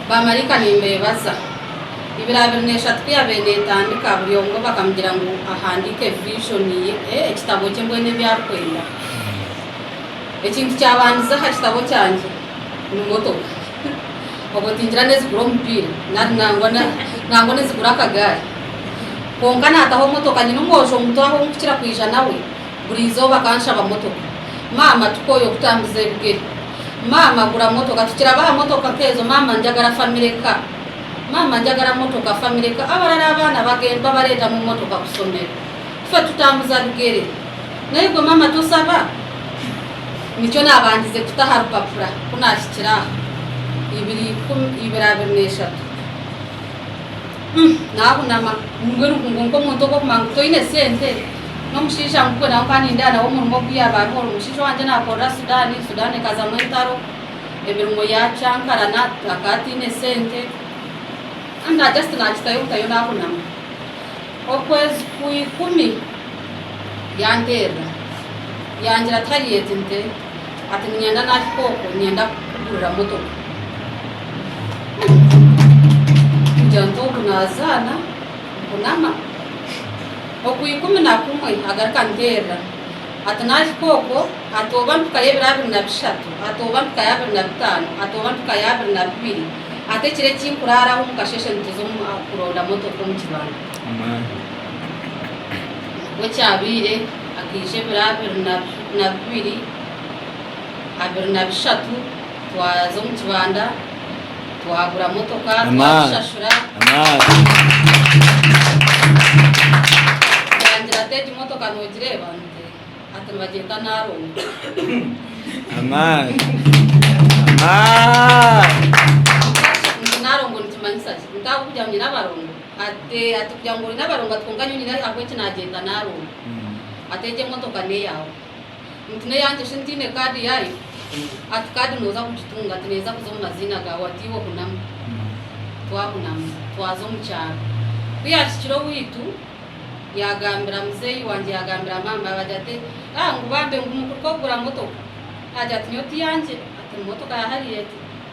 Baamaraika nimbeebaza. Ibiri abiri n'eshatu ku yaabaire neetandika, buri omwe bakamugira ngu ahandiike eviizhoni ye, ekitabo kye mbwenu ebi arikwenda. Ekintu kyabandize aha kitabo kyangye ni motoka. Obwo tingira n'ezigura omupiira nari nangwa nangwa n'ezigura akagaari. Kwonka naataho motoka, nyine omwojo muto ahu nkukira kwija nawe. Buri izooba akanshaba motoka. Maama tukooye okutambuza ebigere. Maama gura motoka. Tukirabe aha motoka nk'ezo. Maama njagara family car. Maama njagara motoka, family car. Abarara abaana bagenda bareetamu motoka kusomero. Ife tutambuza bigere. Naigwe maama tosaba? Nikyo naabandize kuta aha rupapura ku naahikire aha. Ibiri ikumi, ibiri abiri n'eshatu. Umm nahunama ngu erugungu nkomuntu ogu okumanya ngu toine sente nomushaija ngu gwe nawe nkanindeeba nawe omurimo ogu yaaba ariho oru omushaija wangye nakorera Sudan, Sudan ekazamu entaro emirimo yacankarana akaba ataine sente Kandi na just nakitayo butayo nahunama okwezi kwa ikumi yanterera yangira ati hariya egi nte. Ati, Niinyenda naahika okwo niinyenda kukugurira motoka kugira nti oku naazaana nkunama. Oku ikumi na kumwe agaruka anteerera ati, Naahika okwo, ati oba mpika y'ebiro abiri na bishatu, ati oba mpika y'abiri na bitaano, ati oba mpika y'abiri na bibiri, ati ekiro eki nkuraaraho omu kasheeshe nituza kuronda motoka omu kibanda. Bwe kyabaire. Akaija ebiro abiri na bibiri, abiri na bishatu, twaza omu kibanda, twagura motoka, twagishashura. Yangira ati, Egi motoka noogireeba? Ati, Nibagyeta Narongo. Nti, Narongo nikimanyisa ki? Nti, Ahabw'okugira ngu nyine abarongo? Ati, Ati kugira ngu oine abarongo ati kwonka nyowe nyine ahabw'enki naagyenda naaronda. Ati egyo emotoka n'eyaawe? Nti n'eyangye shi ntaine kaadi yaayo? Ati kaadi nooza kugitunga. Ati neeza kuza omu maziina gaawe. Ati iwe hunamu. Twahunama twaza omu kyaro. Ku yaahikire owaitu, yaagambira muzeeyi wangye yaagambira maama we agira ati, Ah ngu bambe ngu mukuruga kugura motoka? Agira ati nyowe ti yangye. Ati ni motoka ya hariya egyo.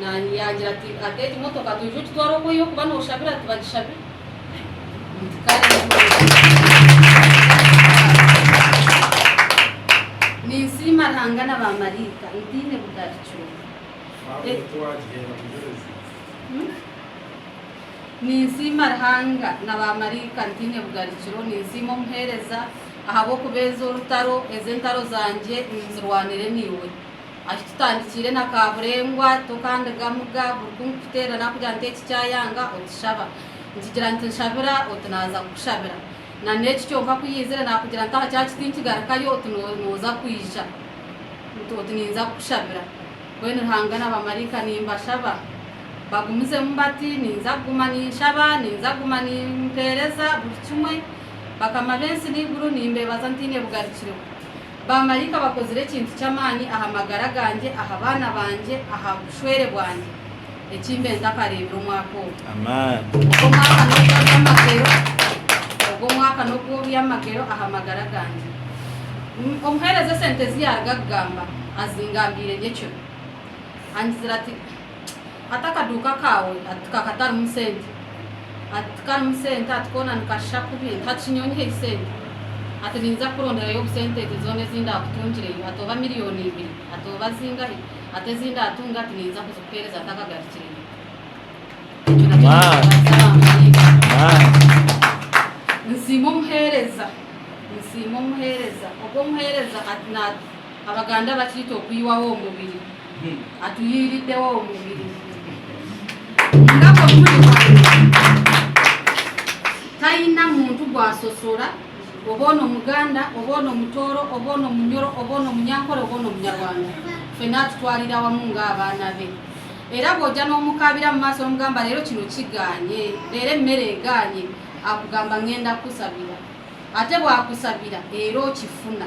Naanye yaagira ati, Ata egi motoka toije ogitware oku orikuba nooshabira ati bagishabire. Nti kare ninsiima Ruhanga na baamaraika ntaine bugarikyo. Ninsiima Ruhanga na baamaraika ntaine bugarikiro. Ninsiima omuheereza ahabw'okubeeza orutaro, ezi entaro zangye ninzirwanire naiwe. Ati, Tutandikiire na Kaaburengwa, Tokandiga Muga, buri ku nkukuteerera nakugira nti eki kyayanga, otishaba. Nkigira nti nshabira, oti naaza kukushabira. Na n'eki kyonka ku yaizire nakugira nti aha kya kiti nkigarukayo, oti nooza kwija. Nti oti ninza kukushabira. Mbwenu Ruhanga na bamaraika nimbashaba. Bagumizemu bati, Ninza kuguma ninshaba, ninza kuguma nimpeereza buri kimwe. Bakama b'ensi n'eiguru, nimbeebaza ntaine bugarukiro. Baamaraika bakozire ekintu ky'amaani aha magara gangye, aha baana bangye, aha bushwere bwangye, eki mbe ntakareebire omwaka ogu. Ogwo mwaka n'ogw'eby'amagero, ogwo mwaka n'ogw'eby'amagero aha magara gangye. Omuheereza esente ezi yaaruga kugamba, azingambiire ngye ekiro. Angizira ati. Hati akaduuka kaawe ka katarimu sente? Ati, Tikarimu sente, ati koona nikashusha kubi, hati shi nyowe nyiheyo sente? Ati, Ninza kukuronderayo obusente ente zoona ezi ndaakutungireyo, ati oba miliyooni ibiri, ati oba zingahi, ati ezi ndaatunga, ati ninza kuzikuheereza ntakagarikireyo. Ekyo nakyo nikibaasa abamarayika. Nsiima omuheereza, nsiima omuheereza. Ogwo omuheereza ati, Abaganda bakiita okwihaho omubiri. atuhiiriddeho omubiri taine muntu gwasosora oba one omuganda oba one omutooro oba one omunyoro oba one omunyankore oba one omunyarwanda fena atutwarira wamu nga abaana be era bwoja n'omukaabira mu maaso nomugamba reero kino kigaanye reero emere egaanye akugamba ngenda kukusabira ate bwakusabira reero okifuna.